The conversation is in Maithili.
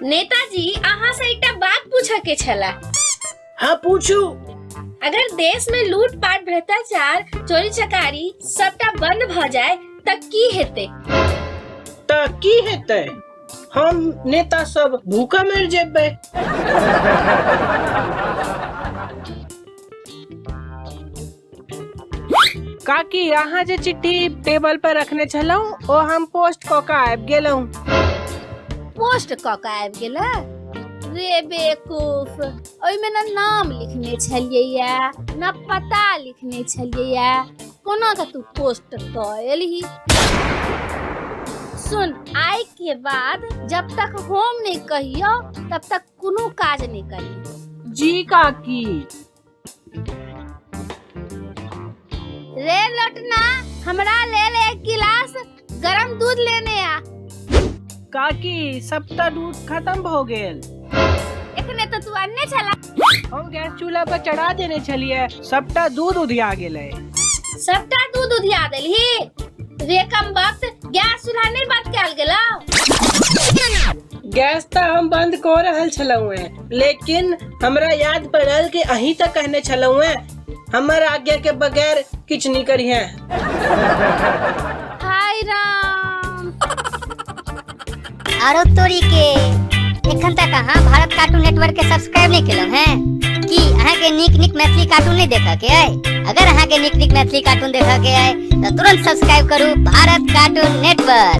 नेताजी अहाँ से एकटा बात पूछे के छला हाँ पूछू अगर देश में लूट पाट भ्रष्टाचार चोरी चकारी सबटा बंद भ जाए त की हेते त की हेते हम नेता सब भूखा मर जेबे काकी अहाँ जे चिट्ठी टेबल पर रखने छलहुँ ओ हम पोस्ट कऽ कऽ आबि गेलहुँ पोस्ट कऽ कऽ आबि गेला रे बेवकूफ ओहिमे ने नाम लिखने छलियैए ने पता लिखने छलियैए कोना कऽ तू पोस्ट कऽ एलही सुन आइ के बाद जब तक हम नहि कहियो तब तक कोनो काज नहि करी जी काकी रे लटना हमरा लेल एक गिलास गरम दूध लेने आ काकी सबटा दूध खत्म भ गेल एखने तो तू अन्ने छला हम गैस चूल्हा पर चढ़ा देने छलिए सबटा दूध उधिया गेलै सबटा दूध उधिया देलही रे कम वक्त गैस चूल्हा नहीं बंद कैल गेला गैस तऽ हम बंद कऽ रहल छलहुँ हैं लेकिन हमरा याद पड़ल कि अही तक कहने छलहुँ हैं हमर आज्ञा के बगैर किछ नहीं करी हैं हाय राम आरो तोरी के एखन तक अहाँ भारत कार्टून नेटवर्क के सब्सक्राइब नहीं केलहुँ हैं की अहाँ के नीक नीक मैथिली कार्टून नहीं देखा के आए अगर अहाँ के नीक नीक मैथिली कार्टून देखा के आए तो तुरंत सब्सक्राइब करू भारत कार्टून नेटवर्क